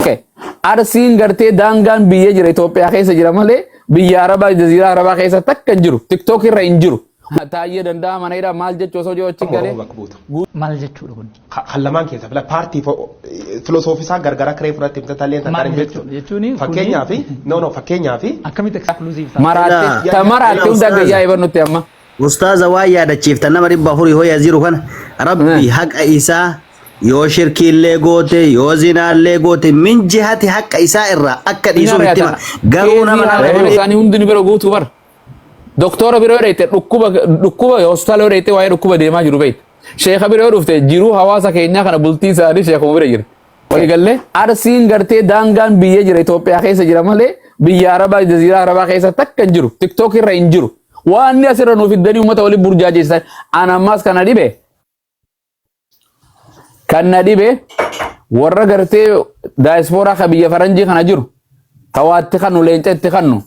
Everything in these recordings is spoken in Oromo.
Okay. Arsiin gartee daangaan biyya jira Itoophiyaa keessa jira malee biyya Arabaa jaziiraa Arabaa keessa takka hin jiru. TikTok irra hin jiru. Taayee danda'a mana hidhaa maal jechuu osoo jiru achi Oromoo galee bakka buuta. maal jechuudha kun Ka- Kan lamaan keessa fila paartii filosoofisaa gargaraa kiree fudhatte himta talleen takkaan Maal hin jechuudha? beektu. Jechuun kun- Fakkeenyaa fi no no fakkeenyaa fi akkamitti exclusive ta'a? maraatti Ina- ta maraatti ina hunda ustaaza. gayyaa iban nutti amma. Ustaaza waan yaadachiiftan nama dhibba afurii hoya jiru kana rabbi Eh. haqa isaa yoo shirkiillee goote yoo zinaallee goote min jihati haqa isaa irraa akka dhiisuuf itti hima. Garuu nama nama Yeroo dhibee isaanii hundi ni bira guutu bara. Doktora bira yoo dheeyte dhukkuba dhukkuba hospitaala yoo dheeyte waa'ee dhukkuba deemaa jiru beekta. Sheekha bira yoo dhufte jiruu hawaasa keenyaa kana bultii isaanii sheekuma bira jira. Walii gallee arsiin gartee daangaan biyya jira Itoophiyaa keessa jira malee biyya Arabaa jaziiraa Arabaa keessa takka hin jiru. Tiktook irra hin jiru. Waan inni asirra nuuf fiddanii uummata waliin burjaajeessitan an ammaas kana dhibe kan na dhibe warra gartee daayispooraa ka biyya faranjii kana jiru ka waa itti kannu leenca itti kannu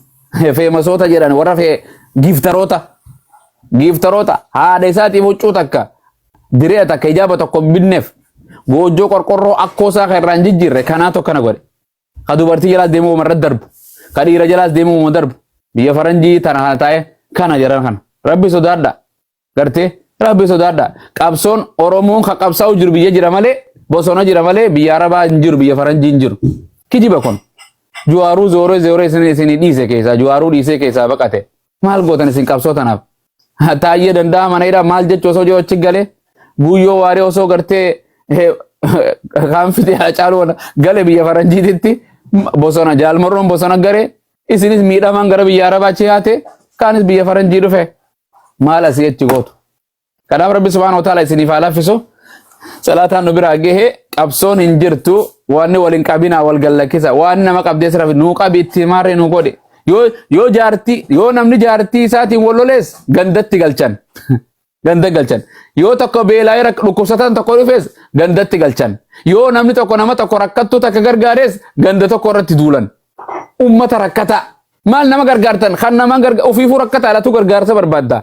feemasoota jedhan warra fee giiftaroota giiftaroota haadha isaatiif huccuu takka direya takka ijaaba tokko hin binneef goojjoo qorqorroo akkoo isaa kan irraa hin jijjiirre kanaa tokko kana godhe. Ka dubartii jalaas deemuu wama irratti darbu. Ka dhiira jalaas deemuu wama darbu. Biyya faranjii tana kana taa'ee kana jedhan kana. Rabbi sodaadha. Gartee rabbi sodaadha. Qabsoon Oromoon ka qabsaa'u jiru biyya jira malee bosona jira malee biyya Arabaa hin jiru biyya faranjii hin jiru. Kijiba kun. Juwaaruu zooree zooree isin isin dhiise keessaa juwaaruu dhiisee keessaa baqate. Maal gootan isin qabsoo tanaaf? Taayyee danda'a mana hidhaa maal jechu osoo jiru achi galee guyyoo waaree osoo gartee eh, kaan fitee hacaaluu wala- gale biyya faranjiititti m- bosona jaalmarroon bosona garee isinis miidhamaan gara biyya arabaa achi yaate kaanis biyya faranjii dhufe maal asii achi gootu? Kanaaf Rabbi Subhaanahu wa Ta'aala isiniif haa laaffisu. Salaataan nu biraa gahe qabsoon hin jirtu waanni wal hin qabinaa wal gallakkisa waan nama qabdee sirra nuu qabi itti himaarree nuu godhe. Yoo yoo jaartii yoo namni jaartii isaatiin wal lolees gandatti galchan. Ganda galchan. Yoo tokko beelaa irra dhukkubsataan tokko dhufees gandatti galchan. Yoo namni tokko nama tokko rakkattuu takka gargaarees ganda tokko irratti duulan. Uummata rakkataa. Maal nama gargaartan kan nama garga ofiifuu rakkataa laatu gargaarsa barbaadda.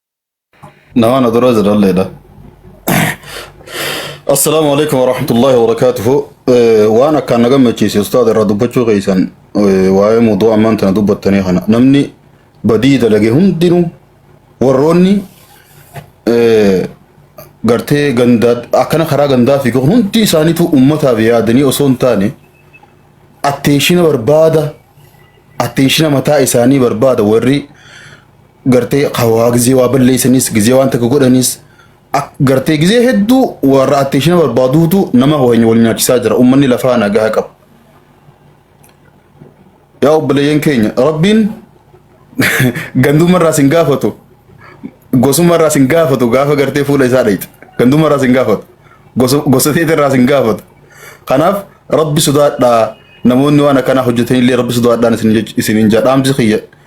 Nama na dura jiralleedha. Assalaamu alaikum warahmatullahi wabarakaatuhu. Eh, Waan akkaan na gammachiise ustaad irraa dubbachuu keessan eh, waa'ee muduu ammaan tana dubbattanii kana namni badii dalage hundinuu warroonni eh, gartee gandaa akkana karaa gandaa fi kun hundi isaaniitu ummataaf yaadanii osoo hin taane atteeshina barbaada atteeshina mataa isaanii barbaada warri gartee hawaa gizee waa balleessanis gizee waan takka godhanis ak- gartee gizee hedduu warra atteeshina barbaaduutu nama wayni wal nyaachisaa jira ummanni lafaa nagaa qabu. Yaa obboleeyyan keenya rabbiin gandummarraa sin gaafatu gosummarraa sin gaafatu gaafa gartee fuula isaa dhayxe gandummarraa sin gaafatu gosa gosa teetirraa sin gaafatu kanaaf rabbi sodaadhaa namoonni waan akkanaa hojjetanillee rabbi sodaadhaan isin jech- isiniin jedha dhaamsi kiyya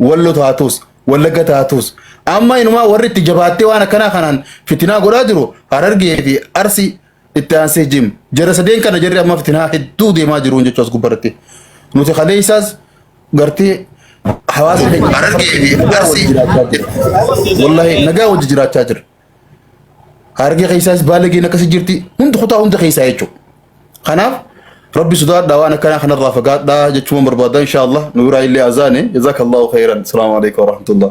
Wallo taatus, Wallagga taatus amma inumaa warri itti jabaattee waan akkanaa kanaan fitinaa godhaa jiru Harargee fi Arsi itti aansee jim. Jara sadeen kana jarri amma fitinaa hedduu deemaa jiruun jechuu as gubbarratti. Nuti kaleessaas gartee hawaasa keenya Harargee fi Arsi wallahi nagaa wajji jiraachaa jira. Harargee keessaas baalageen akkasi jirti hundi kutaa hunda keessaa jechuudha. Kanaaf rabbi sodaadhaa waan akkanaa kanarraa fagaadhaa jechuun barbaada insha Allah nu biraa illee azaane jazakallahu khairan. Salaamu alaikum warahmatullah.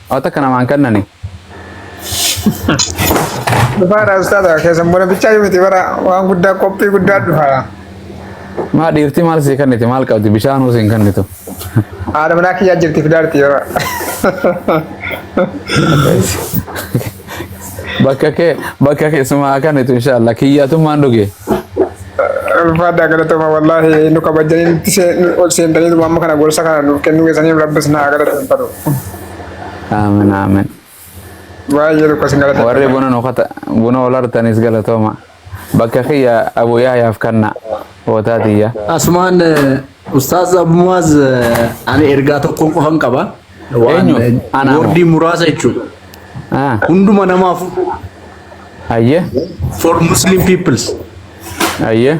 Haa takka namaan kannani. Dhufaadha ustaadha keessan bona bichaa yoo miti bara waan guddaa qophii guddaa dhufaadha. Maa dhiirti maal sii kanniti maal qabdi bishaan hoo siin kannitu. Haadha manaa kiyyaa jirti fidaarti yeroo. bakka kee bakka keessumaa akkanitu inshallah kiyyaatummaan dhuge Ulfaadhaa galatoomaa wallaahi nu kabajanii nutti see- nu- ol seentanii dhuma amma kana gorsa kana nuuf kennuu keessaniif rabbis naa galateeffatu. aamin aamin Baay'ee tokko isin warri galateeffatu. buna nu kata buna ol artanis galatooma bakka kiyya abu yahyaaf kanna hootaa tiyya Asumaan Ustaaz Abmuwaaz ani ergaa tokkoon qofan qaba. Waan Eenyu? Anaa moo? woordii muraasa jechuudha. Ah, Hunduma namaaf hayyee for Muslim peoples. hayyee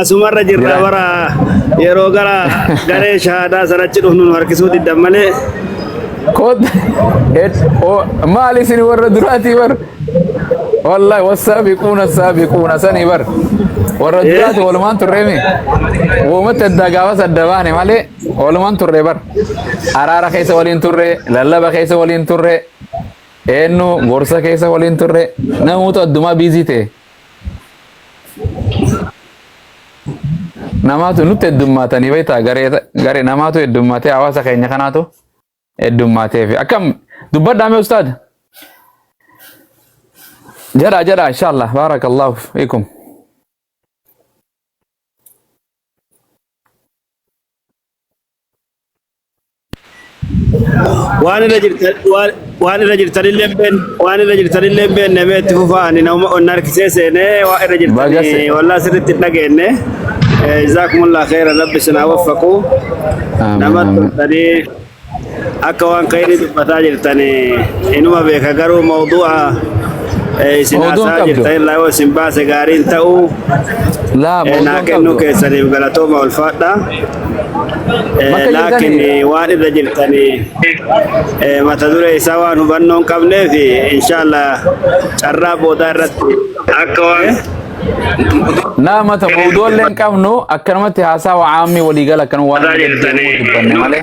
Asumarra jirra Jira. bara yeroo gara garee shahaadaa sanachi dhufnu nu harkisuu diddan malee Kot et o maali isin warra duraatii bar. Wallahi wassaabiquuna saabiquuna sanii bar. Warra Eh. duraati walumaan turree mi? Uumatti addaa gaafas adda baane malee walumaan turree bar. Araara keessa waliin turree, lallaba keessa waliin turree, eenyu gorsa keessa waliin turree, namoota addumaa biizii ta'e. Namaatu nutti heddummaatanii beektaa garee garee namaatu heddummaatee hawaasa keenya kanaatu heddummaatee fi akkam dubbadhaa mee ustaad jedhaa jedhaa inshaallah baarakallahu fiikum. waan irra jirtan waan waan irra jirtan illee hin beekne waan irra jirtan illee hin beekne mee itti fufaa ani nama onna harkisee seenee waan irra jirtan Baga se- wallaa sirriitti hin dhageenye jazaakumullah khayra rabbi isin haa waffaqu Amiin, nama amiin. turtanii akka waan khayrii dubbataa jirtan inuma beeka garuu mawduu'a eh, isin Mawduun haasaa qabdu. jirtan irraa yoo isin baase gaarii hin ta'u Laa, Eh, mawduun naa kennuu qabdu. keessaniif galatooma ulfaadha Bakka naa jirtanii- kenne waan irra jirtanii eh, mata duree isaa waan hubannoo hin qabneef inshaallah carraa boodaa irratti akka waan Naa mata boodoo illee hin qabnu akkanumatti haasaa waa'aammii waliigala akkanuma waan Mataa jirtanii. dubbanne malee.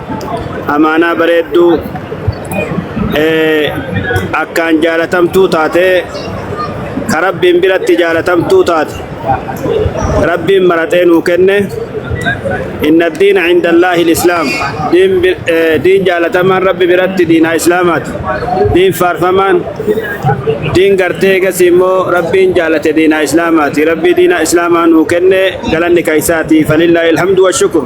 amaanaa bareedduu akkaan jaalatamtuu taatee ka rabbiin biratti jaalatamtuu taate rabbiin maraxee nuu kenne inna diina inda allaahi lislaam diin jaalatamaan rabbi biratti diinaa islaamaati diin faarfamaan diin gartee egasii immoo rabbiin jaalate diinaa islaamaati rabbii diinaa islaamaa nuu kenne galanni kaysaati falillaahi alhamdu washukur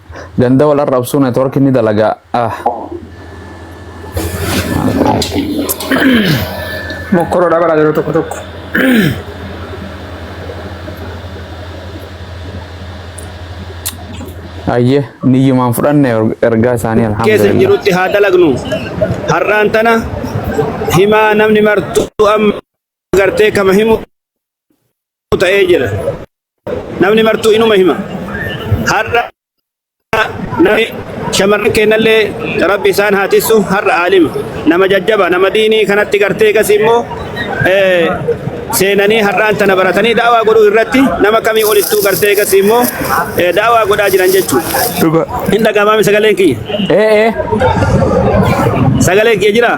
Ganda wal arrabsuu network ni dalagaa. Ah. Mokkoroodha bara yeroo tokko tokko. Ayyee niyyumaan fudhanne ergaa isaanii keessa hin alhamdulillah. jirutti haa dalagnu. Har'aan tana himaa namni martuu amma gartee kama himu ta'u ta'ee jira. Namni martuu inuma hima. Har'a namni shamarran keenyallee rabbi isaan haa tissu har'a aalima. Nama jajjaba nama diinii kanatti gartee gas immoo seenanii har'aan tana baratanii daawaa godhuu irratti nama kamii olittuu gartee gas immoo daawaa godhaa jiran jechuudha. Dhuga. Hin dhagamaami sagaleen kiyya. Ee ee. Sagaleen kiyya jiraa?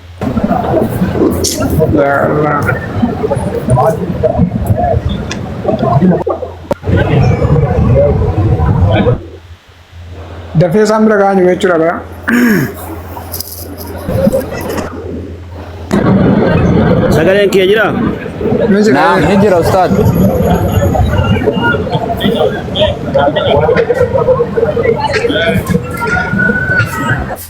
Ya Allah. Dafee isaan bira ga'an jiru jechuudha bara. Sagaleen kiyya jira? Ni jira. Naam, ni jira ustaad.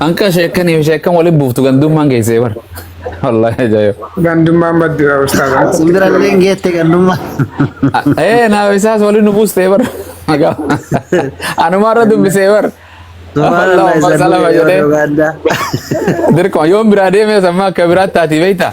Anka sheekkanii fi sheekkan waliin buuftu gandummaan geessee bar. Wallahi ajaa'iba. Gandummaan baddira ustaadha. Simbirallee hin geette gandummaa. Ee naaf isaas waliin nu buustee bar. Anumaarra dubbisee bar. Subhanallah isa Allahumma salama jedhee. Uganda. Dirqama yoon biraa deemee sammaa akka biraatti taati beektaa?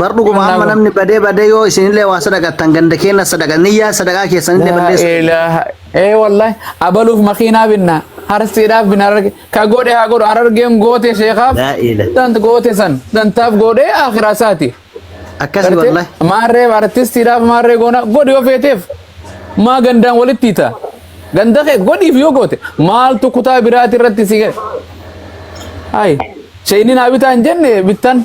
Bar dhuguma Kennaa amma kun. namni badee badee yoo isinillee waa sadaqattan ganda keenya sadaqa niyyaa sadaqaa keessanillee Laa balleessa. ilaaha. Ee wallahi abaluuf makiinaa binna. Harsiidhaaf binna hararge. Ka godhe haa godhu harargeen goote sheekaaf. Laa ilaaha. Tant goote san. Tantaaf godhee akhiraa isaatiif. Akkasii Gartee wallahi. maarree artistiidhaaf maarree goona godhi yoo feeteef maa gandaan walitti hiita. Ganda kee godhiif yoo goote maaltu kutaa biraati irratti si gadi. Hayi. Shayiniin haa bitaa hin jenne bittan.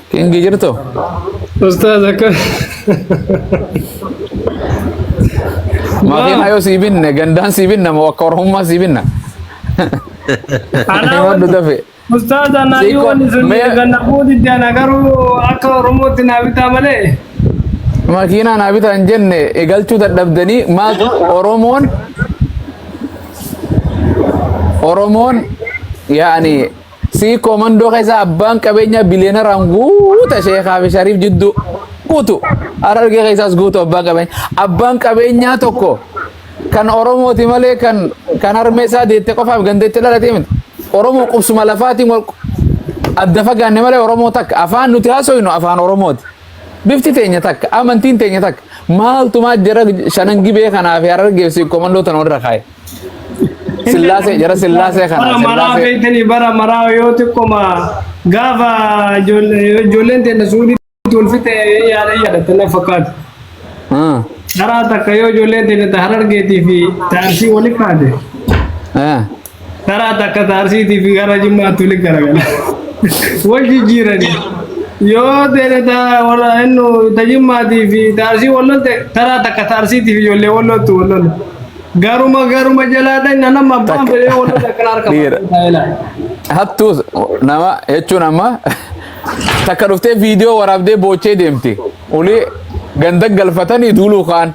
Kingi jirtu? Ustaaz akka Makiinaa yoo sii binne gandaan sii binna moo akka oromummaa sii binna? Anaa Himadhu wani- dafe. Ustaaz anaa Siiko, yoo wani sun mee- ganna fuuti jana garuu akka Oromootti naa bitaa malee. Makiinaa naa bitaa hin jenne eegalchuu dadhabdanii maal Oromoon Oromoon yaani Sii koomandoo keessa abbaan qabeenyaa biliyeenaraan guuta sheekaa fi shariif jidduu guutu harargee keessaas guutu abbaan qabeenyaa abbaan qabeenyaa tokko kan oromooti malee kan kan harmee isaa deette qofaaf gandeetti dhalatee miti oromoo qubsuma lafaatiin wal adda fagaanne malee oromoo takka afaan nuti haasoynu afaan oromooti bifti teenya takka amantiin teenya takka maaltu maa jara shanan gibee kanaa fi harargee fi sii koomandoo tan walirra kaa'e. Sillaasee jara sillaasee kana bara maraa sillaasee beektanii bara maraa yoo xiqqoma gaafa ijoollee- ijoolleen teenya suudii wal fixe yaada yaadatan na fakkaatu. Ah, Dharaa takka yoo ijoolleen teenya ta harargeetii fi ta arsii wali kaate eh. dharaa takka ta arsiitii fi gara jimmaatti wali garagala. Wal jijjiiranii yoo teenya ta wala innu ta jimmaatii fi ta arsii wal lolte dharaa takka ta arsiitii fi ijoollee wal loltu wal lola. Garuma garuma jalaa dhaqna nama abbaan fedhee wanta takkan harka Dhiira. baay'ina. hattuu nama jechuun amma takka dhuftee viidiyoo waraabdee boochee deemti ulii ganda galfatanii duuluu kaan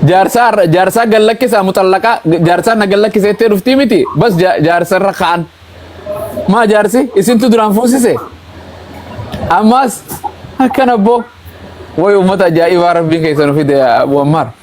jaarsaa irra- jaarsaa gallakkisaa muxallaqaa jaarsaa na gallakkiseettee dhuftii miti bas ja- jaarsa irra kaan maa jaarsi isintu duraan fuusise ammaas akkana boo way ummata ajaa'ibaa rabbiin keessan fide yaa abu ammaar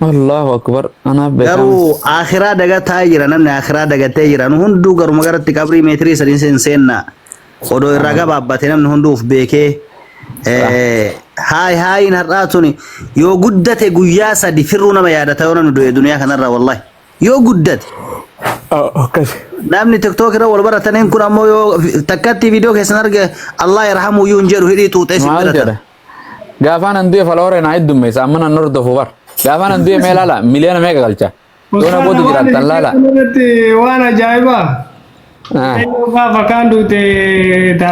Allahu akbar anaaf beekaam. Garuu akhiraa dagataa jira namni akhiraa dagatee jira nu hunduu garuma garatti qabrii meetirii sadiin seen seenna odoo irraa gabaabbate namni hunduu of beekee eh, haay haayiin har'aa tuni yoo guddate guyyaa sadi firruu nama yaadata yoo namni du'e duniyaa kanarraa wallahi yoo guddate Akkasi. namni tiktok irra wal barataniin kun ammoo yoo takkatti viidiyoo keessan arge Allah yarhamu yuun jedhu hidhii xuuxee si Maal jedha? biratan Gaafaan an du'e faloore naa heddummeessa amma nan hordofu bar. Gaafaan an du'e mee laala miliyoona meeqa galcha. Yoona booda jiraattan laala. Irratti waan ajaa'ibaa. Ah. Gaafa kaan duute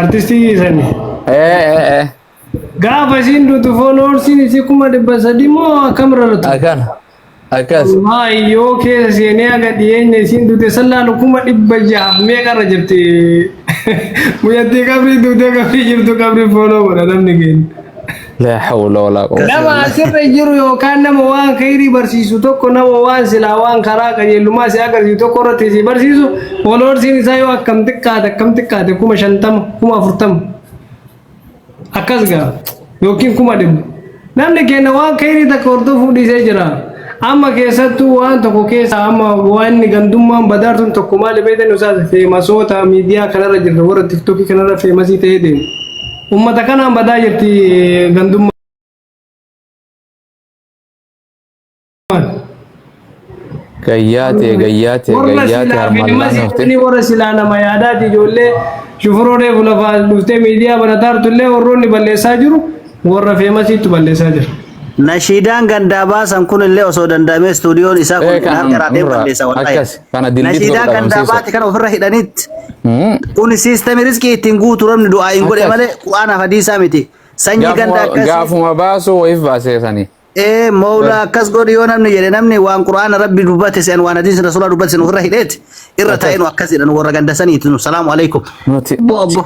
artistii sani. Eh eh eh. Gaafa isiin duutu fooloorsiin isii kuma dhibba sadii moo akkamirra latu? Akana. Akkas. Ammaa iyyoo keessa seenee haga dhiyeenya isiin duute san laalu kuma dhibba jahaaf meeqa irra jirti. Mucattii qabrii duutee qabrii jirtu qabrii fooloo godha namni keenya. Laa hawla walaa quwwata. Nama asirra jiru yookaan nama waan khayrii barsiisu tokko nama waan silaa waan karaa qajeelummaa si agarsiisu tokko irratti si barsiisu fooloorsiin isaa yoo akkam xiqqaate akkam xiqqaate kuma shantama kuma afurtama. akkas gaa yookiin kuma dhibba namni keenya waan kayrii takka hordofuu dhiisee jira amma keessattuu waan tokko keessa amma waan gandummaan badaartuun tokko maali beektan isaas feemasoota miidiyaa kanarra jirra warra tiktokii kanarra feemasii ta'ee deemu ummata kanaan badaa jirti gandummaa. Gayyaatee gayyaatee Warra gayyaatee silaa harmaan filma laana hafte. siqanii warra silaa nama yaadaati ijoollee shufuroolee fulafaa dhuftee miidiyaa barataa turtullee warroonni balleessaa jiru warra feemasiitu balleessaa jira. Nashiidaan gandaa baasan kun illee osoo danda'amee istuudiyoon isaa kun Eh, kan ilaalcha irraatiin nurra balleessa wallahi. akkas, kana dildiitti Nashiidaan godhu gandaa dhabamsiisa. baate kan ofirra hidhanitti. Hmm. Kun siistemii riskii ittiin guutu rabni du'aa hin godhe Akkas. malee Qur'aanaaf hadiisaa miti. Sanyii gandaa Gaafuma- akkasii. Gaafuma baasuu wayif baasee sanii. Ee mawlaa akkas godhi yoo namni jedhe namni waan quraana rabbi dubbate se'an waan hadiisni rasuulaa dubbate se'an ofirra hidheeti irra Akkas. taa'ee nu akkas jedhan warra ganda saniiti nu salaamu alaikum. Nuti Obbo obbo.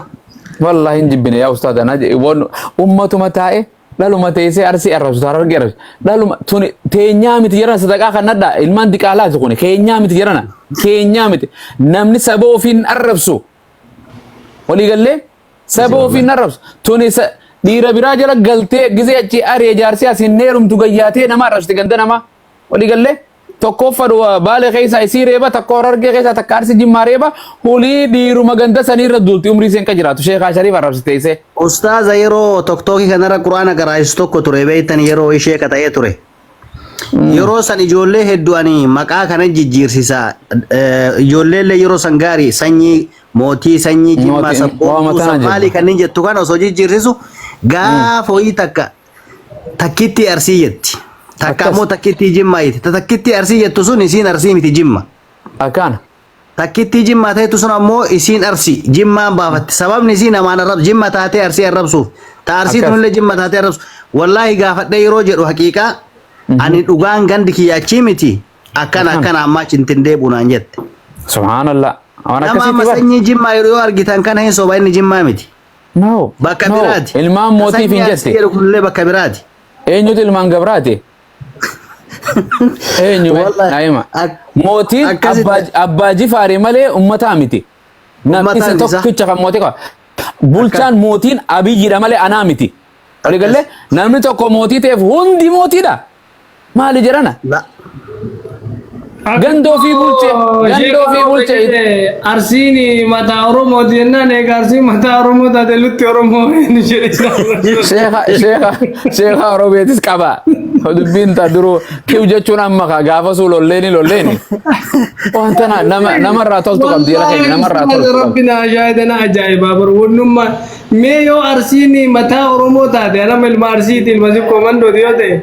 wallahi hin jibbine yaa ustaaz anaa jedhe waan ummatuma taa'e dhaluma teessee arsii arrabsu taara argee arrabsu dhaluma tuni teenyaa miti jedhana sadaqaa kan nadhaa ilmaan diqaalaati kuni keenyaa miti jedhana keenyaa miti namni saba ofiin arrabsu walii gallee Saba Masii ofiin wallahi. arrabsa. Tuni sa- dhiira biraa jala galtee gizee achi ari'e jaarsi as hin heerumtu gayyaatee nama arrabsite ganda namaa. Walii gallee tokkooffa dhuwa baale keessaa isii reeba takka horargee keessaa takka arsi jimmaa reeba hulii dhiiruma ganda sanii irra duulti umrii seen ka jiraatu sheekaa shariif arrabsite isee. Ustaaza yeroo tokkokkii kanarra quraana garaachisu tokko ture beektan yeroo ishee qata'ee ture. Yeroo san ijoollee hedduu ani maqaa kana jijjiirsisa. Eh, Ijoollee illee yeroo san gaarii sanyii mootii sanyii jimmaa Mootii- waama sabboontuu tana sabbaalii jedhu. kanneen jettu kana osoo jijjiirsisu gaafa ho'ii takka takkittii arsii jetti. Takka Akkas. ammoo takkittii jimmaa jetti. Ta Takkittii arsii jettu sun isiin arsii miti jimma. Akkaana. Takkittii jimmaa ta'etu sun ammoo isiin arsi jimmaan baafatte. Sababni isii namaan arrabsu jimma taatee arsii arrabsuuf. Ta arsii Akkas. tunillee jimma taatee arrabsu. Wallaahi gaafadhee yeroo jedhu haqiiqaa ani dhugaan gandi kiyya achii miti akkana Akkan. akkana ammaa achi hin tindeebu naan jette. Subhaanallah. Waan Nama akkasiitti amma bar. sanyii jimmaa yeroo yoo argitan kana hin soba inni jimmaa miti. No. Bakka no. biraati. Ilmaan Ka mootiif sanyii hin arsii jette. jedhu kunillee bakka biraati. Eenyutu ilmaan gabraate? Eenyu mee? Wallahi. Naima. Ak- Mootiin akkasitti- abbaa- abbaa jifaarii malee ummataa miti. Namni Ummataa isa miti, isa. tokkicha kan mootii qaba. Bulchaan mootiin abiyyiidha malee anaa miti. Walii galee namni tokko mootii ta'eef hundi mootiidha. Maali jedhana? La- Ganda ofii bulche, ganda ofii bulche. Arsiin mataa Oromoo jennaan egaa arsiin mataa Oromoo taate lutti Oromoo hin jedhisaa. Sheekha, sheekha, sheekha Oromeetis qaba. Dubbiin taa duruu kiw jechuun amma kaa gaafasuu lolleeni lolleeni. Wanta na- nama namarraa toltu qabdi jala keenya namarraa toltu qabdi. Rabbi na ajaa'idana ajaa'ibaa bar wannummaa mee yoo arsiin mataa Oromoo taate anama ilma arsiiti ilma sikkoo mandooti yoo ta'e.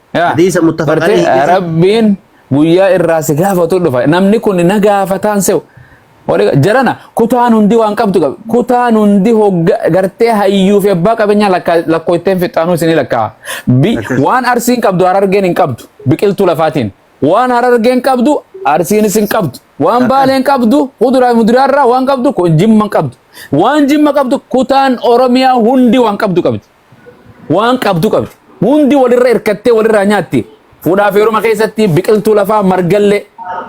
Yaa, Hadiisa muttafaqanii bartee, hidhisa. Rabbiin guyyaa irraa si gaafatu dhufa. Namni kun na gaafataan se'u. Wali- Jarana kutaan hundi waan qabdu qabu. Kutaan hundi hogga gartee hayyuu fi abbaa qabeenyaa lakkaa- lakkooyteen fixaanuu isinii lakkaa. Bi- Akkas. Waan arsiin qabdu harargeen hin qabdu. Biqiltuu lafaatiin. Waan harargeen qabdu arsiinis hin qabdu. Waan Akkas. baaleen qabdu kuduraa fi muduraa irraa waan qabdu kun jimma hin qabdu. Waan jimma qabdu kutaan Oromiyaa hundi waan qabdu qabdi. Waan qabdu qabdi. Hundi walirra hirkattee walirraa nyaatti. Fuudhaaf heeruma keessatti biqiltuu lafaa margallee.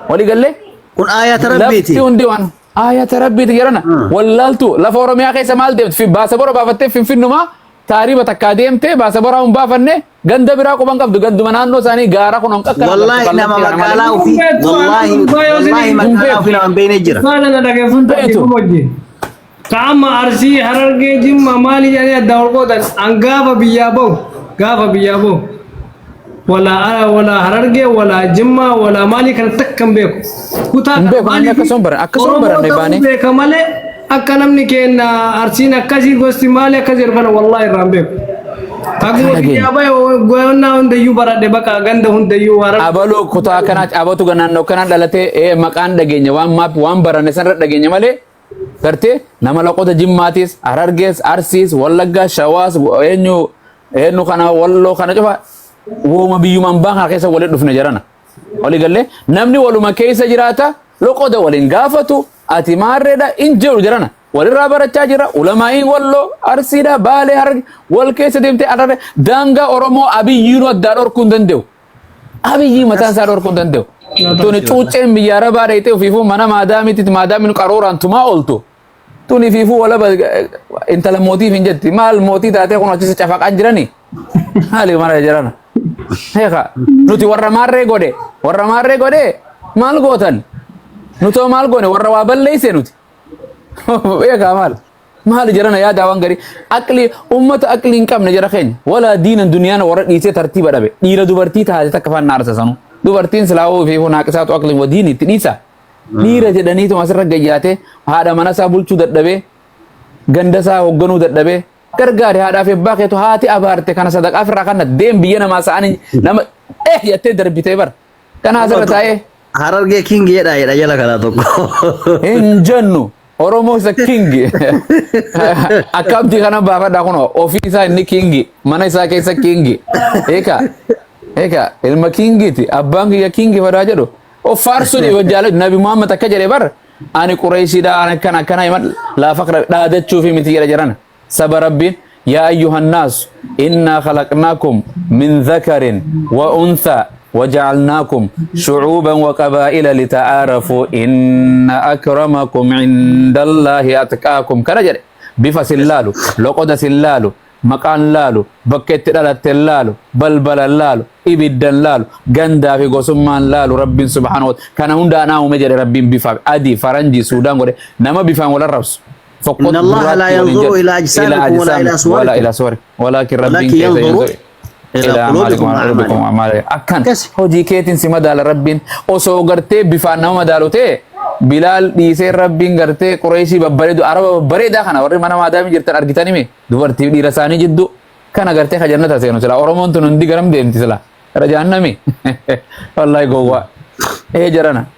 Walii gallee? Kun aayata rabbiiti. Lafti hundi waan aayata rabbiiti jedhana. Wallaaltu lafa Oromiyaa keessa maal deemti? Baasa bora baafattee finfinnumaa taariiba takkaa deemtee baasa boraa hin baafanne ganda biraa quban qabdu ganduma naannoo isaanii gaara kun on qaqqara. Wallaahi nama magaalaa ofii wallaahi wallaahi magaalaa ofii nama hin beekne jira. Baala na dhageeffattu Beetu. wajjin. Ka amma Arsii, Harargee, Jimma maali jedhanii addaa ol qoodan an gaafa biyyaa bahu gaafa biyyaa bahu walaa walaa Harargee walaa Jimmaa walaa maalii kana takka hin beeku. Kutaa Hin beeku, namni akkasuma hin baranne, akkasuma hin baranne baanee. Oromoo ta'uu beeka malee akka namni keenya Arsiin akkasii gosti maali akka jedhu kana wallaahi irraa hin beeku. Akkuma Kana biyyaa bahe goyonnaa hundayyuu baradhe bakka ganda hundayyuu Harargee. abaloo kutaa kanaa abatu naannoo kanaa dhalatee ee, maqaan dhageenya waan maap waan baranne sanarra dhageenya malee Gartee nama laqota jimmaatis, harargees, arsiis, wallaggaa, shawaas, eenyu eenyu kana walloo kana cufa wooma biyyuma ambaa kana keessa waliin dhufne jarana. Walii gallee namni waluma keessa jiraata loqoda waliin gaafatu ati maarreedha in jedhu jarana. Walirraa barachaa jira ulamaa'iin walloo arsiidha baalee hararge wal keessa deemtee ararre daangaa Oromoo abiyyiinuu addaa dhorkuu hin danda'u. Abiyyi mataan isaa dhorkuu hin danda'u. Tuni cuucceen biyya arabaa dheeyxee ofiifuu mana maadaamiitti maadaamiin qarooraan tumaa ooltu. Tuni fiifuu walaba eh, intala mootiif hin jetti. Maal mootii taatee kun achisi cafaqaan jirani? Maali mara jirana? Heeka nuti warra maarree godhe warra maarree godhe maal gootan? Nutoo maal goone warra waa balleeyse nuti. Heeka maal? maali jarana yaadaa waan garii aqli ummata aqli hin qabne jara keenya walaa diinan duniyaan warra dhiisee tartiiba dhabe dhiira dubartii taate takka faan naarsa sanu dubartiin silaawoo fi hunaaqisaatu aqliin wadiin itti dhiisa dhiira jedhaniitu asirra gayyaate haadha mana isaa bulchuu dadhabee ganda isaa hoogganuu dadhabee gargaari haadhaaf ebbaa keetu haati abaarte kana sadaqaa firraa kanna deem biyya namaa sa'anii nama eh yattee darbitee bara Kana asirra taa'ee Harargee king jedha jedha jala kana tokko. hin jennu. Oromoo isa kingi. Akkamti kana baafadha kunoo ofii isaa inni kingi mana isaa keessa kingi. Eeka eeka ilma kingiiti abbaan kiyya kingi fadaa jedhu. Of faarsuun yoo jaalatu nabi Muhammad akka jedhe bar ani qureeshiidha ani akkana akkana himan laafa dhaadachuufi miti jedha jedhan. Saba Rabbiin yaa ayyuhan naasu innaa khalaqnaakum min dhakarin wa unthaa wa ja'alnaakum shu'uuban wa qabaa'ila lita'aarafuu inna akramakum indallaahi atqaakum kana jedhe bifa sin laalu loqoda sin laalu maqaan laalu bakka itti dhalatten laalu balbalan laalu ibiddan laalu gandaa fi gosummaan laalu rabbiin subhaanahu wa ta'ala kana hunda anaa uume jedhe rabbiin bifa adii faranjii suudaan godhe nama bifaan wal arrabsu tokko Inna Allaha gurraatti laa waliin yanzuru jedhu. ilaa ajsaamikum Ilaa walaa ilaa ajsaamikum walaa suwarikum. ilaa suwarikum. Walaakin Rabbiin Walaakin keessa yanzuru yanzuru ilaa ilaa quluubikum amaalikum wa quluubikum a'maalikum. amaalikum. Akkan Akkasi. hojii keetiin si madaala Rabbiin osoo gartee bifaan nama madaalu ta'e Bilaal dhiisee Rabbiin gartee Qureeshii babbareedu Araba babbareedaa kana warri mana maadaamii jirtan argitanii mi dubartii dhiira isaanii jidduu kana gartee ka jannata seenu sila Oromoon tun hundi garam deemti sila gara jahannami wallaahi gowwaa ee jarana.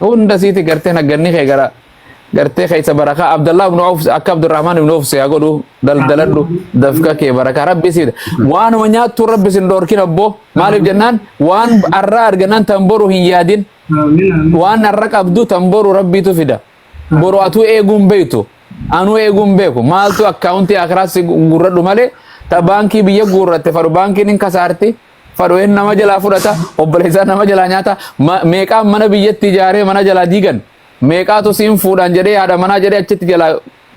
hunda siiti gartee nagganni kee gara gartee keessa barakaa Abdallaa ibn Auf akka Abdurrahman ibn Auf siyaa godhu daldaladhu dafka kee barakaa rabbi siidha waanuma nyaattu rabbi sin dhoorkin abboo maaliif jennaan waan arraa argannaan tan boru hin yaadin waan arra qabdu tan boru rabbiitu fida boru atuu eeguun beektu anuu eeguun beeku maaltu akkaawuntii akiraas gurradhu malee ta baankii biyya guurratte fadhu baankiin hin kasaarti Fadho'een nama jalaa fudhata, obboleessaan nama jalaa nyaata. Ma- Meeqaan mana biyyatti ijaaree mana jalaa diigan. Meeqaatu siin fuudhaan jedhee haadha manaa jedhee achitti jalaa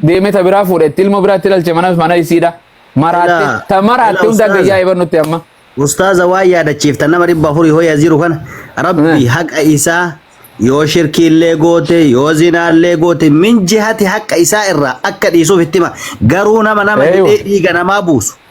deemee ta biraa fuudhe itti ilmoo biraatti ilaalche mana mana isiidha. Maraatte Ilaa- ta maraatte ilaa hunda ustaaza. gayyaa eebannutti amma. Ustaaza waa yaadachiifta nama dhibba afurii hoya jiru kana rabbi Eh. haqa isaa yoo shirkiillee goote yoo zinaallee goote min jihati haqa isaa irraa akka dhiisuuf itti hima garuu nama nama Eeywa. hidhee dhiiga namaa buusu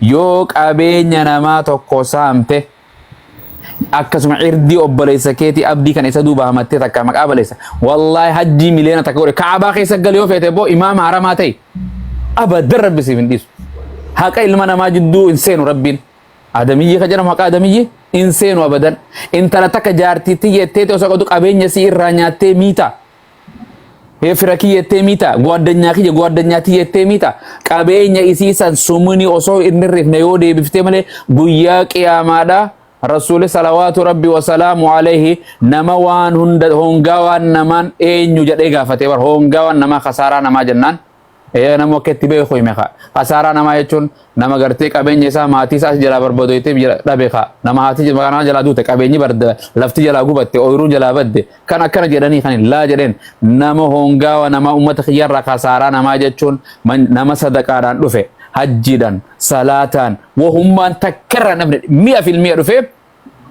Yoo qabeenya namaa tokko saamte akkasuma irdii obboleessa keetii abdii kan isa duuba hamattee takka maqaa baleessa wallaahi hajjii miliyoona takka godhe kaabaa keessa gali yoo feete boo imaama haramaa ta'e abadan rabbi siif hin dhiisu haqa ilma namaa jidduu hin seenu rabbiin adamiyyee ka jedhamu haqa adamiyyee hin seenu abadan intala takka jaartiitti jettee osoo qabdu qabeenya si irraa nyaattee miita Hee fira kiyya ettee miita goaddanyaa kiyya goaddanyaa tiyya ettee miita qabeenya isii san sumuni osoo hin hirrifne yoo deebiftee malee guyyaa qiyaamaadhaa Rasuuli salawaatu rabbi wasalaamu alayhi nama waan hunda hoongaa waan namaan eenyu jedhee gaafate bar hoongaa waan namaa kasaaraa namaa jennaan Ee nama akka itti beeku hime ka. Kasaaraa namaa jechuun nama gartee qabeenya isaa maatii isaa jalaa barbadoytee jala dhabe ka. Nama haati maqaa nama jalaa duute qabeenyi barda lafti jalaa gubatte ooyiruun jalaa badde kan akkana jedhanii kan hin laa jedheen nama hoongaawa namaa uummata kiyyarraa kasaaraa namaa jechuun man- nama sadaqaadhaan dhufe hajjiidhaan salaataan wahummaan takkarraa namni mi'a filmi'a dhufee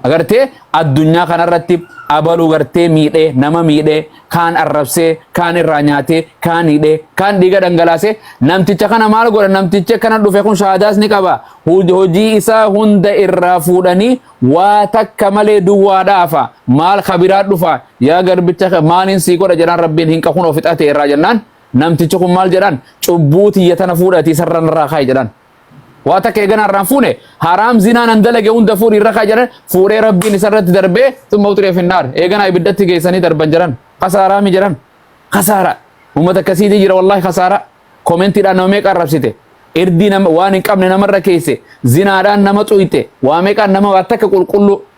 Agartee addunyaa kanarratti abaluu gartee miidhee nama miidhee kaan arrabsee kaan irraa nyaatee kaan hidhee kaan dhiiga dhangalaasee namticha kana maal godha namtichi akkana dhufe kun shaadaas ni qaba hojii isaa hunda irraa fuudhanii waa takka malee duwwaa dhaafa maal kabiraa dhufa yaa garbicha maaliin sii godha jedhaan rabbiin hin qakun ofixate irraa jennaan namtichi kun maal jedhaan cubbuu tiyya tana fuudhatii sarran irraa kaa'i jedhaan Waa takka eegana irraan fuune haraam zinaa nan dalage hunda fuudhi irra kaa jedhan fuudhee rabbiin isarratti darbee summa uxiree finnaar eegana ibiddatti geessanii darban jedhan kasaaraa mi jedhan kasaara uummata akkasiitii jira wallaahi kasaara koomentiidhaan nama meeqa arrabsite irdii nama waan hin qabne namarra keesse zinaadhaan nama xuyte waa meeqaan nama waa takka qulqulluu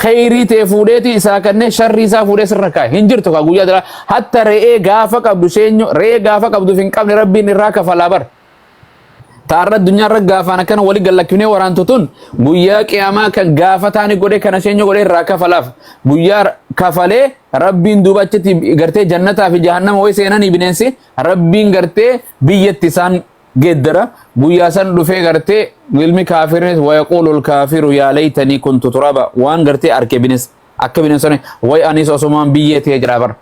kheyrii tee fuudheeti isaa kannee sharrii isaa fuudhee sirra kaa'e hin jirtu kaa guyyaa dhala hatta re'ee gaafa qabdu seenyu re'ee gaafa qabduuf hin qabne rabbiin irraa kafalaa bar taarra addunyaa irra gaafaan akkana wali gallakkifnee waraantu tun guyyaa qiyaamaa kan gaafa taani godhe kana seenyu godhe irraa kafalaaf guyyaa kafalee rabbiin duuba achitti gartee jannataa fi jahannama way seenanii bineensi rabbiin gartee biyyatti isaan geeddara guyyaa san dhufee gartee ilmi kaafirnis wayaquulul kaafiru yaa laytanii kuntu turaba waan gartee arke bines akka bineensonni way anis osomaan biyyee ta'ee jira bar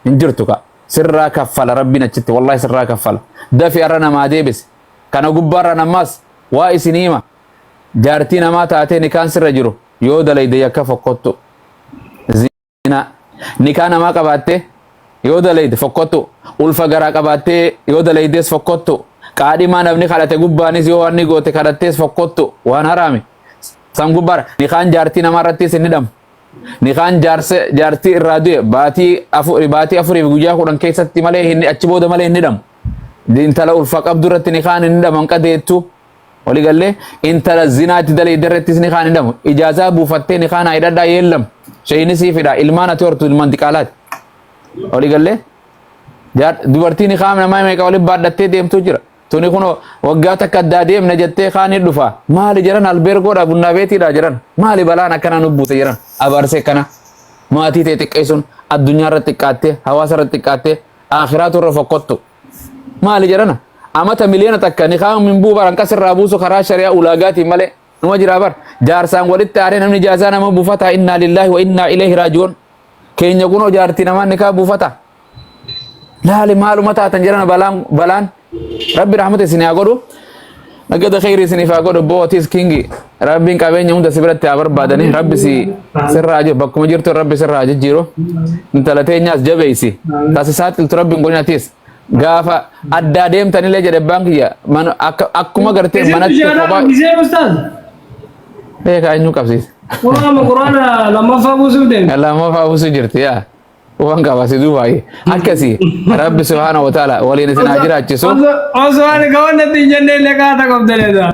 hin jirtu ka sirraa kaffala rabbiin achitti wallahi sirraa kaffala dafi arra namaa deebise kana gubbaarra namaas waa isin hima jaartii namaa taatee nikaan sirra jiru yoo dalayde yakka fokkottu zinaa nikaa namaa qabaattee yoo dalayde fokkottu ulfa garaa qabaattee yoo dalaydees fokkottu qaadhimaa namni kadhate gubbaanis yoo waan ni goote kadhattees fokkottu waan haraami san gubbaara nikaan jaartii namaa irrattis hin hidhamu nikaan jaarsa jaartii irraa du'e baatii afuri baatii afuriif guyyaa kudhan keessatti malee hin achi booda malee hin hidhamu intala ulfa qabdu irratti nikaan hin hidhaman qadeettu Wali gallee intala zinaatti dalee darrettis ni kaan hidhamu. Ijaazaa buufattee ni kaan hidhadhaa yeellam. Sheeyini siif hidhaa ilmaan ati hortu ilmaan diqaalaati. Wali gallee dubartiin ni kaan namaa meeqa waliin baadhattee deemtu jira. Tuni kun waggaa takka addaa deemna jettee kaan ni dhufa. Maali jiran albeergoodha bunnaa beetiidha jiran. Maali balaan akkana nu buute jiran. Abaarsee kana maatii ta'e xiqqeessuun addunyaa irra xiqqaattee hawaasa irra xiqqaattee akhiraa turre fokkottu. Maali jedhana? Amata miliyoona takka nikaan min buu baran qas irraa buusu karaa shari'aa ulaagaatiin malee numa jiraa bar. Jaarsaan walitti aanee namni jaasaa nama buufataa innaa lillaahi wa innaa ileehi raaji'uun. Keenya kunoo jaartii namaa nikaa buufataa. Laali maaluma taatan jedhana balaan balaan. Rabbi rahmata isin haa godhu. Nagada kheyri isiniif haa godhu boo atis kingi rabbiin qabeenya hunda si biratti haa barbaadani rabbi si sirraa haa jiru bakkuma jirtu rabbi sirraa haa jijjiiru intala teenyaas jabeeysi tasi saaxiltu rabbiin godhin atis gaafa addaa deemtanillee jedhe abbaan kiyya mana- akka- akkuma gartee Isin manatti biyya kophaa kana gisee ustaaz. beekaa eenyu qabsiisa Quraana quraana lammaffaa buusuuf deemte. lammaffaa buusu jirti yaa Waan qaba si duubaayee. Akkasi rabbi subhaana wa ta'ala waliin isin haa jiraachisu. Osoo ani kawan natti hin jenne illee kaata qabdanii dha.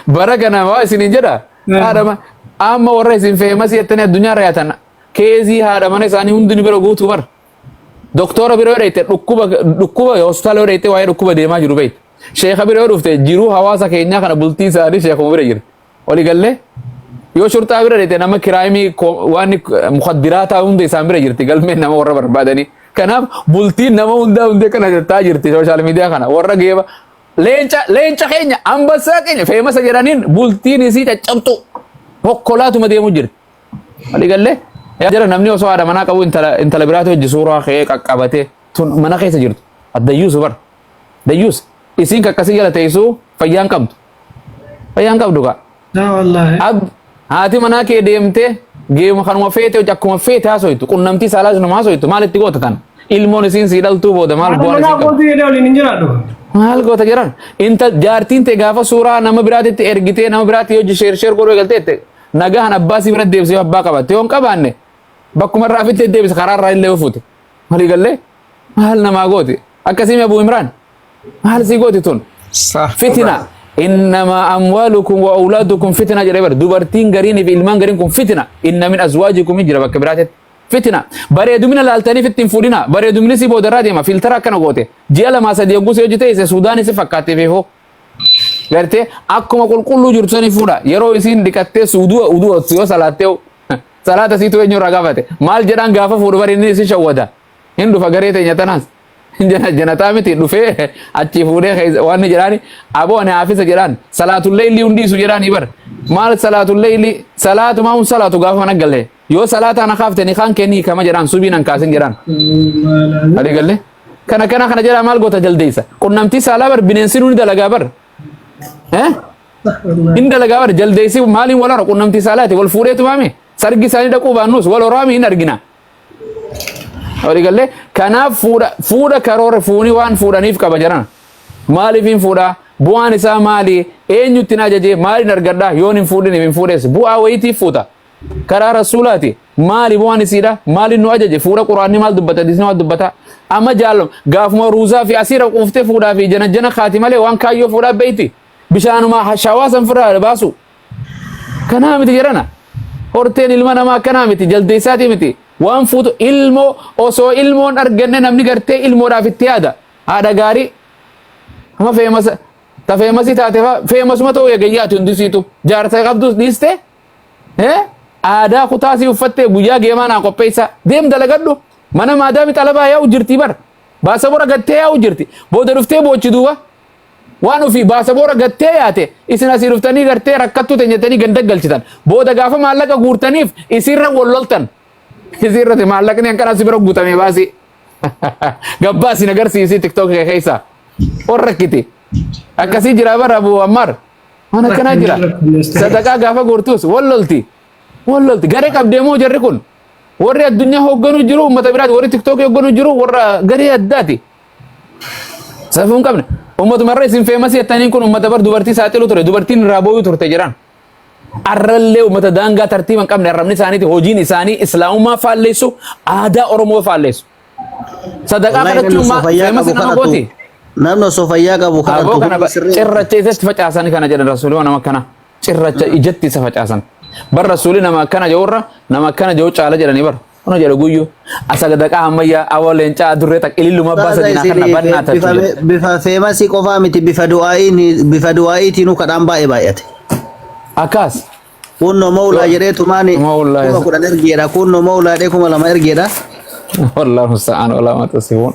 Bara kana waa isin hin jedha. Haadhama amma warra isin feemas jettanii addunyaa irra yaatan keezii haadha mana isaanii hundi ni bira guutuu bara. Doktora bira yoo dhayte dhukkuba dhukkuba hospitaala yoo dhayte waa'ee dhukkuba deemaa jiru beektu. Sheekha bira yoo dhufte jiruu hawaasa keenyaa kana bultii isaanii sheekuma bira jira. Wali galle yoo shurxaa bira dhete nama kiraayimii waan mukaddiraataa hunda isaan bira jirti galmeen nama warra barbaadanii. Kanaaf bultiin nama hundaa hundee kana jirtaa jirti sooshaal miidiyaa kana warra geeba leenca leenca keenya ambassaa keenya feemasa jedhaniin bultiin isii caccabxu hokkolaatuma deemu jirti. Wali galle jara namni osoo haadha manaa qabu intala intala biraatu hojji suuraa kee qaqqabate tun mana keessa jirtu addayyuusu bara dayyuusa isiin kakkasii jala teessuu fayyaan qabdu. Fayyaan qabdu kaa. Yaa wallaahi. Ab haati manaa kee deemtee geemu kanuma feete hojii akkuma feete haasoytu qunnamtii saalaa isinuma haasoytu maal itti goota tan ilmoon isiin sii dhaltuu booda maal Haadha bu'aan manaa isiin qabdu. kootii jedhee waliin hin jiraadhu. Maal goota jiran inta jaartiin tee gaafa suuraa nama biraatitti ergitee nama biraatti hojii sheer sheer godhuu eegalteette nagahan abbaa sii bira deebisee yoo abbaa qabatte yoo hin qabaanne bakkuma irraa fittee deebisa karaa irraa illee yoo fuute walii gallee maal namaa gooti akkasii mee abuu imraan maal si gooti tun Sah. fitina innama amwaalukum wa awlaadukum fitina jedhe bar dubartiin gariin fi ilmaan gariin kun fitina inna min azwaajikum hin jira bakka biraatetti fitina bareedumina laaltaniif ittiin fuudhina bareedumni si boodarraa deema filtara akkana goote ji'a lamaa sadii hogguu si hojii ta'ise suudaanii si fakkaattee fi hoo gartee akkuma qulqulluu jirtu sani fuudha yeroo isiin dhiqattee suuduu uduu yoo salaattee salaata siitu eenyu irraa gaafate maal jedhaan gaafa fuudhu bari inni isin shawwada hin dhufa garee teenya tanaas janataa miti dhufee achii fuudhee waan jedhaani aboo ani haafisa jedhaan salaatullee illii hundiisu jedhaani bar maal salaatullee illii salaatu maa hun salaatu gaafa mana galee yoo salaataa na kaafte ni kaan kennii kama jedhaan subii nan kaasin jedhaan ali galee kana kana kana jedhaa maal goota jaldeessa qunnamtii saalaa bar bineensi nuuni dalagaa bar hin dalagaa bar jaldeessi maaliin wal hora qunnamtii saalaati wal fuudheetu maame sargi isaanii dhaquu baannus wal horaami hin argina Horii gallee kanaaf fuudha fuudha karoora fuuni waan fuudhaniif qaba jedhan maaliif hin fuudhaa bu'aan isaa maali eenyutti na ajajee maaliin argadhaa yoon hin fuudhiniif hin fuudhees bu'aa wayitiif fuuta karaa rasuulaati maali bu'aan isiidha maaliin nu ajaje fuudha quraanni maal dubbata disni maal dubbata amma jaallam gaafuma ruuzaa fi asiira quuftee fuudhaa fi janajjana kaati malee waan kaayyoo fuudhaa beeyti bishaanuma shawaa san firraa baasu Kanaa miti jedhana. Horteen ilma namaa akkanaa miti jaldeessaatii miti. Waan fuutu ilmoo osoo ilmoon arganne namni gartee ilmoodhaaf itti yaada. Haadha gaarii amma feemasa ta feemasii taate faa feemasuma ta'uu eegayyaati hundisiitu jaarsa qabduus dhiiste aadaa kutaasii uffattee guyyaa geemaa naa qopheessaa deem dalagadhu mana maadaami xalabaa yaa'u jirtii bar baasa bora gattee yaa'u jirti booda dhuftee boochi duuba Waan ofii baasaboora gattee yaate isin asii dhuftanii gartee rakkattuu ta'e jettanii ganda galchitan. Booda gaafa maallaqa guurtaniif isiirra wal loltan. Isiirratti maallaqni hanqanaa si bira guutamee baasii. Gabbaa isin agarsiisii tiktook kee keessa. Ol rakkiti. Akkasii jira bara Abu Ammaar. Waan akkanaa jira. Sadaqaa gaafa guurtus wal lolti. Wal lolti. Garee qabdee moo jarri kun? Warri addunyaa hoogganuu jiru uummata biraati. Warri tiktookii hoogganuu jiru warra garee addaati. Safuu hin qabne. Uummatuma irra isin feemasii jettaniin kun uummata bar dubartii saaxilu ture. Dubartiin irraa booyuu turte jiran. Arrallee uummata daangaa tartiiba hin qabne arrabni isaaniiti hojiin isaanii islaamummaa faalleessu aadaa Oromoo faalleessu. Sadaqaa Wallahi namni osoo kadhachuun fayyaa feemasi qabu nama kadhatu. gooti. Namni osoo fayyaa qabu Aboo kadhatu kana hundi sirrii. cirracha isatti facaasan kana jedhan rasuulii waan nama akkana cirracha ijatti isa facaasan. Bar rasuulii nama akkana je'urra nama akkana je'u caala jedhanii bar. Kuno jedhu guyyu asagadaqaa hammayyaa awoo leencaa adurree takka ililluma abbaa Ustaaza sadinaa kana isiniif bannaa bifa tachu jedhu. bifa feemasii qofaa miti bifa du'aa'iin bifa du'aa'iitiinuu kadhaan baay'ee baay'ate. Akkaas. Kunno mawlaa jedhee tumaani Mawlaa kuma isa- kudhan ergeedha. Kunno mawlaa jedhee kuma lama ergeedha. Wallah musta'aan walaa mata sifuun.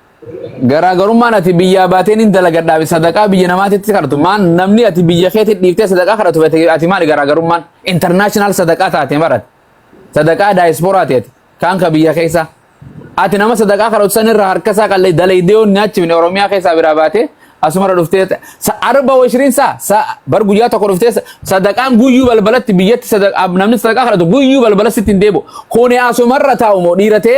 Garaagarummaan ati biyyaa baatee nin dalagadhaafi sadaqaa biyya namaatitti kadhatu maan namni ati biyya keetti dhiiftee sadaqaa kadhatu fete ati maali garaagarummaan international sadaqaa taate marat sadaqaa daayispooraa teeti kaan ka biyya keessa ati nama sadaqaa kadhatu san irraa harka isaa qallee dalaydee yoo nyaachifne oromiyaa keessaa biraa baatee asumara dhuftee sa- arba washiriin saa sa bar guyyaa tokko dhuftee sa- sadaqaan guyyuu balbalatti biyyatti sadaqaa namni sadaqaa kadhatu guyyuu balbala sitti hin deebu kuni asumarra taa'u moo dhiira ta'e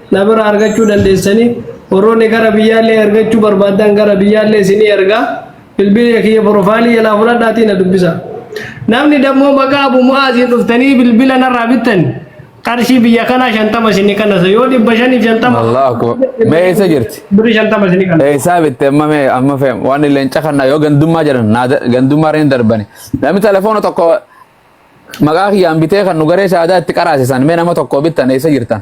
Na bira argachuu dandeessanii warroonni gara biyyaallee ergachuu barbaaddan gara biyyaallee isinii ergaa bilbila kiyya profaayilii jalaa fudhadhaatii na dubbisa. Namni dammoo maqaa Abu Mu'aaziin dhuftanii bilbila narraa bittan qarshii biyya kanaa shantama isinii kannasa yoo dhibba shaniif shantama Allahu akbar. Mee eessa jirti? birri shantama isinii kannasa. Eessaa bitte amma mee amma fe'am waan illee hin cakannaa yoo gandummaa jedhan naa da- gandummaa hin darbani. Namni telefoona tokko maqaa kiyyaan bitee kan nu garee shaadaa itti qaraasisan mee nama tokko bittan eessa jirtan?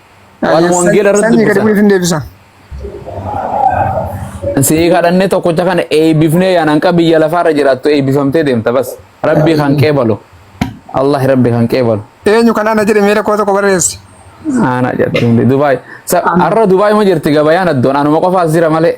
Waan wangeela irratti Sanyii gadi dubbisan. bu'eef hin deebisa. Sii kadhannee tokkocha kana eebbifnee yaa nanqa biyya lafaarra jiraattu eebbifamtee deemta bas. Rabbii kan qeebalu. Allah rabbi kan qeebalu. Eenyu kan ana jedhe miira koo tokko barreessi. Ana jedhu Dubaay. Arra Dubaay ma jirti gabayaan addoon anuma qofaas jira malee.